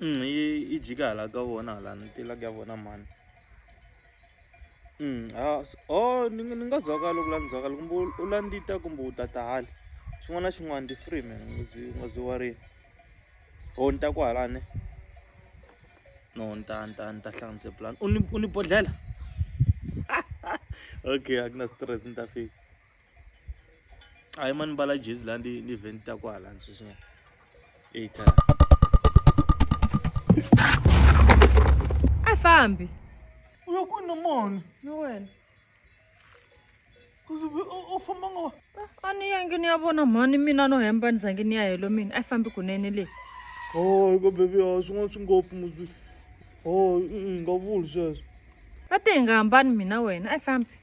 Mm, yi yi jika hala ka vona hala ni tela ka vona mhani mm, ah, oh ni ni nga zwakali ku landzakali kumbe u landita kumbe u ta tahali xin'wana na xin'wana ndi free man nga zwi nga zwi warini ho oh, ni ta ku halani no ni ta ni ta ni ta hlanganise plan u ni u ni bodlela okay a ku na stress ni ta fika a yi mani mbala jezi laha ndi ndi vheni ta kwala sweswi eighta a fambi u ya kwini na mona ni wena kuze u famba ngo ah, a ni yangi ni ya vona mhani mina no hemba ni zangi ni ya helo mina a yi fambi kunene leyi o oh, ka bebi a ah, swin'wana swi ngopfu muzwi o oh, nga vuli sweswo a ti hi nga hambani mina wena a yi fambi